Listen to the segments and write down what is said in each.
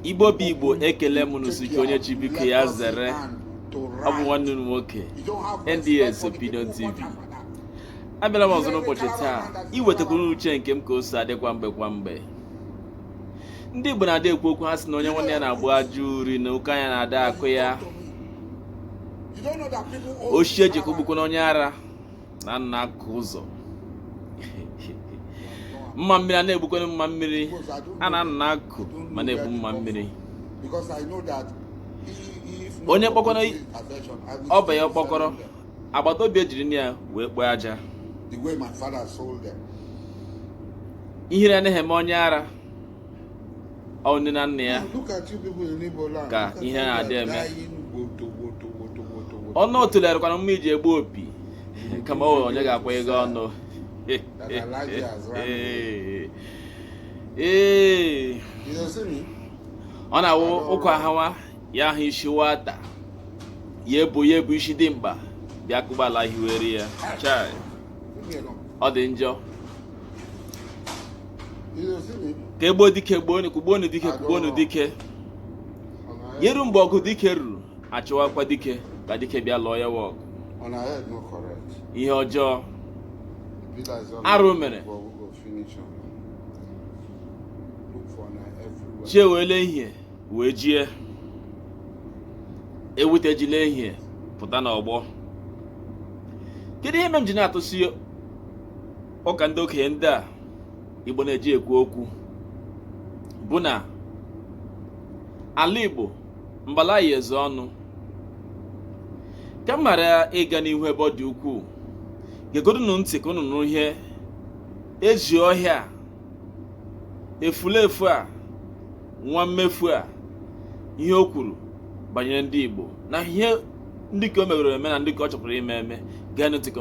igbo bụ igbo ekele m unu sị ka onye chi biko ya zere ọ bụ nwanne m nwoke nds opinion tv abịala m ọzọ n'ụbọchị taa iwetakwuru uche nke m ka o si adị kwa mgbe kwa mgbe ndị igbo na-adị ekwu okwu ha sị na onye nwanne ya na-agba ajọ uri na ọkọ anya na-ada akọ ya ochie jikọ gbukwana onye ara na nna akụkụ ụzọ mma mmiri a na-egbukwana mma mmiri a na nna akụ ma na-egbu mma mmiri onye kpọkọrọ ọba ya mkpọkọrọ agbata obi ejiri ya wee kpoo aja ihere anaghị eme onye ara ọ wụ nne na nna ya ka ihere na-adị eme ọnụ otule rịkwanụ mma iji egbu opi kama onye ga-akwa ego ọnụ ee ọ na-awụ ụkwa hawa ya ahụ isi nwata ya ebu ya ebu isi dimkpa bịa kụgbala hiwere ya chai ọ dị njọ ka e gbuo dike gbuonu dike kugbuonu dike ya eru mgbe ọgụ dike ruru achọwakwa dike ka dike bịa lụọ ya wụ ọgụ ihe ọjọọ arụ mere chi ewela ihe wee jie ewute ejila ihe pụta n'ọgbọ kedu ihe mere m ji na-atụsi ụka ndị okenye ndị a igbo na-eji ekwu okwu bụ na ala igbo mbala ya eze ọnụ ka m ghara ịga n'ihu ebe ọ dị ukwuu geegodunu ntị ka unu nụrụ ihe ezi ọhịa a efulefu a nwa mmefu a ihe o kwuru banyere ndị igbo na ihe ndị ka o megoro eme na ndị ka ọ chọpụrụ ime eme geenụ ntị ka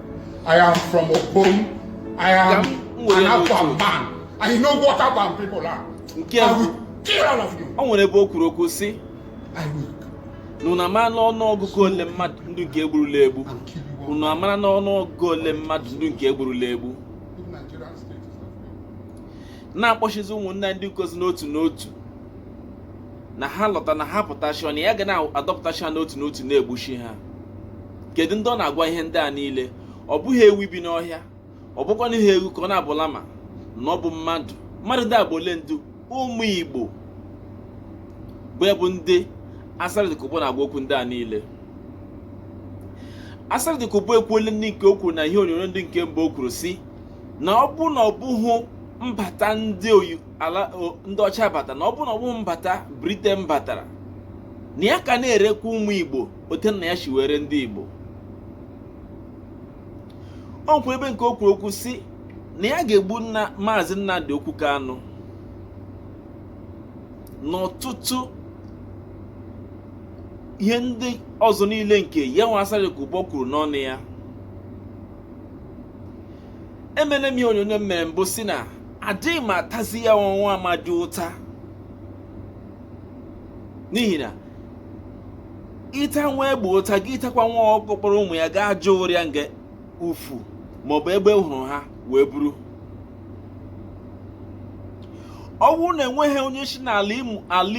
I am from Okom. I am an Afghan man. I know what Afghan people are. Nke I will kill all of you. Ọ nwere ebe o kwuru okwu sị. I will. Unu amara n'ọnụ ọgụgụ ole mmadụ ndị nke egburula egbu. unu amara n'ọnụ ọgụgụ ole mmadụ ndị nke egburula egbu na-akpọchizi ụmụnne ndị nke ọzọ n'otu n'otu na ha lọta na ha pụtachi ọnụ ya ga na-adọpụtachi ha n'otu n'otu na-egbuchi ha kedu ndị ọ na-agwa ihe ndị a niile ọ bụghị ewu bi n'ọhịa ọ bụkwanụghị ewu ka ọ na-abụ lama na ọ bụ mmadụ mmadụ dị agba ole ndu ụmụ igbo bụ ya bụ ndị asari dokubo na-agwa okwu ndị a niile asari dokubo ekwuole ndị nke o kwuru na ihe onyonyo ndị nke mbụ o kwuru sị na ọ bụrụ na ọ bụghị mbata ndị ọcha batara na ọ bụrụ na ọ bụghị mbata briten batara na ya ka na-erekwa ụmụ igbo otu nna ya shi wee ree ndị Igbo o nwekwa ebe nke o kwuru okwu si na ya ga-egbu maazị Nnamdi Okwu Kanu na ọtụtụ ihe ndị ọzọ niile nke ya nwa Asari Dokubo kwuru n'ọnụ ya emene m ihe onyonyo m mere mbụ si na adịghị m atazi ya nwa amadi ụta n'ihi na ịta nwa egbe ụta gị ịtakwa nwa ọkụkọ kpọrọ ụmụ ya gaa jụọ ụrịa nga ufu maọbụ egbe hụrụ ha wee buru ọ bụrụ na enweghị onye si n'ala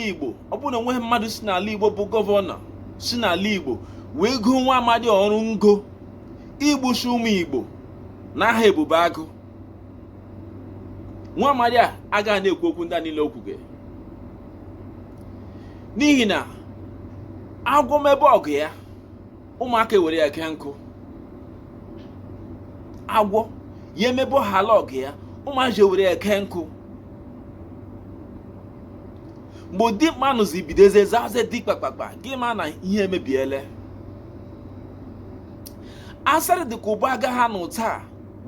Igbo ọ bụrụ na enweghị mmadụ si n'ala Igbo bụ gọvanọ si n'ala Igbo wee goo nwa amadi ọrụ ngo igbusi ụmụ Igbo n'aha ebube agụ nwa amadi a agaghị na-ekwu okwu ndị a niile o kwuga n'ihi na agwọ emebe ọgụ ya ụmụaka ewere ya kee nkụ agwọ ya emebehala ọgụ ya ụmụazị ewere ya kee nkụ mgbe dimkpa nọzi bidozie zaze dị kpakpakpa gị ma na ihe emebiele Asari Dokubo agaghị anọ taa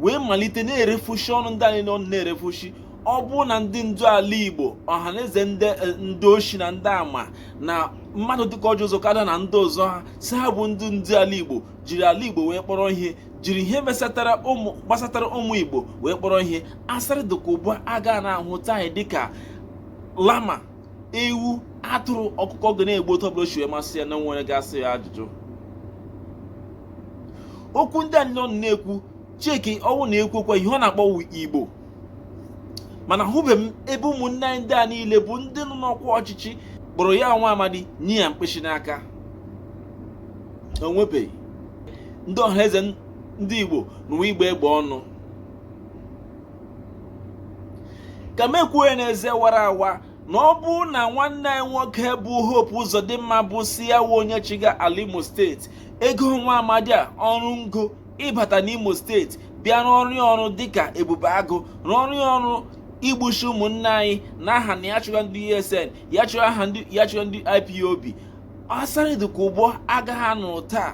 wee malite na-erefushi ọnụ ndị a niile ọ nọ na-erefushi ọ bụrụ na ndị ndu ala Igbo Ọhaneze ndị oshi na ndị ama na mmadụ dịka Orji Uzor Kalu na ndị ọzọ ha sị ha bụ ndị ndu ala Igbo jiri ala Igbo wee kpọrọ ihe jiri ihe gbasatara ụmụ Igbo wee kpọrọ ihe Asari Dokubo agaghị na-ahụta anyị dịka lama ewu atụrụ ọkụkọ ọ ga na-egbu otu ọbụla o shi wee masị ya na-enweghị onye ga-ajụ ya ajụjụ okwu ndị a niile ọ nọ na-ekwu chike ọwụ na-ekwukwa ihe ọ na-akpọ igbo mana ahụbeghị m ebe ụmụnne anyị ndị a niile bụ ndị nọ n'ọkwa ọchịchị kpọrọ ya nwa amadi nye ya mkpịsị n'aka onwebeghị ndị ọhaneze ndị igbo n'ụwa ịgba egbe ọnụ ka m kwuo ya n'eze wara awa na ọ bụrụ na nwanne anyị nwoke bụ Hope Uzodimma bụ sị ya wụ onye chịga ala Imo steeti ego nwa amadi a ọrụ ngo ịbata n'Imo steeti bịa rụọrọ ya ọrụ dịka ebube agụ rụọrọ ya ọrụ igbushi ụmụnne anyị n'aha na ya chụga ndị ESN ya chụga ndị IPOB asari dokubo agaghị anọ taa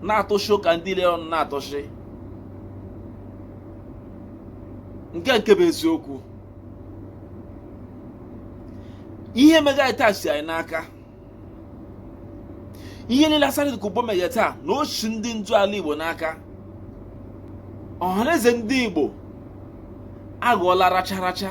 na-atụshi ụka ndị ile ọ nọ na-atụshi nke nke bụ eziokwu ihe mega taa si anyị n'aka ihe niile asari dokubo mega taa na o si ndị ndu ala igbo n'aka ọhaneze ndị igbo aghọọla racha racha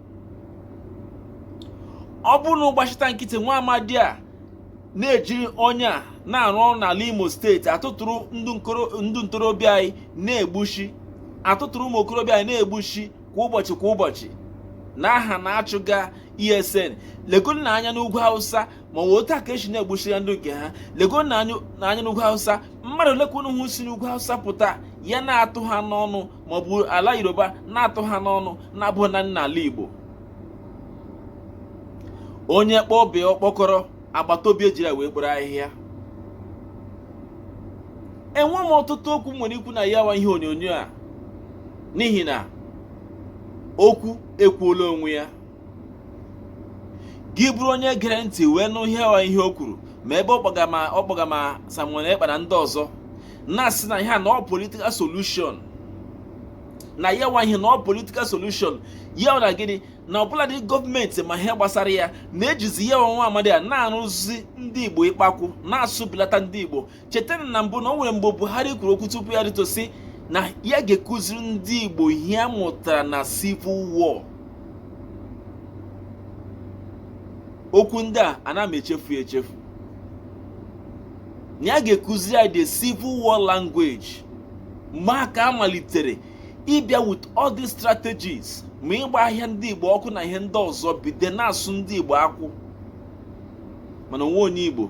ọ bụrụ na ọ gbachita nkịtị nwa amadi a na-ejiri onye a na-arụ ọrụ n'ala imo steeti atụtụrụ ndị ntorobịa anyị na-egbushi atụtụrụ ụmụ okorobịa anyị na-egbushi kwa ụbọchị kwa ụbọchị n'aha na-achụga esn legodunụ anya n'ugwu hausa ma ọ bụ otu a ka e si na-egbusi ya ndị nke ha legodunụ anya n'ugwu hausa mmadụ ole ka unu hụ si n'ugwu hausa pụta ya na-atụ ha n'ọnụ ma ọ bụ ala yoruba na-atụ ha n'ọnụ na-abụ naanị n'ala igbo onye kpọọ be ya ọkpọkọrọ agbata obi ejiri ya wee kporo ahịhịa enwe m ọtụtụ okwu m nwere ikwu na ya wa ihe onyonyo a n'ihi na okwu ekwuola onwe ya gị bụrụ onye gere ntị wee nụ ihe ọ ihe o kwuru ma ebe ọ kpọga ma Simon Ekpa na ndị ọzọ na-asị na ihe a na ọ politikal solushon na ya wa ihe na ọ politikal solushon ya na gịnị na ọbụladị gọọmenti ma ihe gbasara ya na-ejizi ya wa nwa amadi a na-arụzi ndị Igbo ịkpakwụ na-asụbilata ndị Igbo chetanụ na mbụ na o nwere mgbe Buhari kwuru okwu tupu ya rịtuo sị na ya ga-ekuziri ndị Igbo ihe a mụtara na civil war okwu ndị a ana m echefu echefu na ya ga-ekuziri anyị the civil war language mgbe a ka a malitere ịbịa with all these strategies ma ịgba ahịa ndị Igbo ọkụ na ihe ndị ọzọ bido na-asụ ndị Igbo akwụ mana o nwe onye Igbo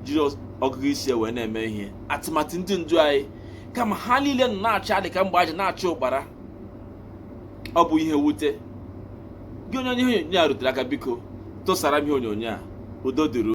jiri ọgụgụ isi wee na-eme ihe tụmadị ndị ndu anyị kama ha niile nọ na-achị adị ka mgbe aja na-achị ụkpara ọ bụ ihe mwute gị onye onye ihe onyonyo a rutere aka biko tụsara m ihe onyonyo a udo dịrị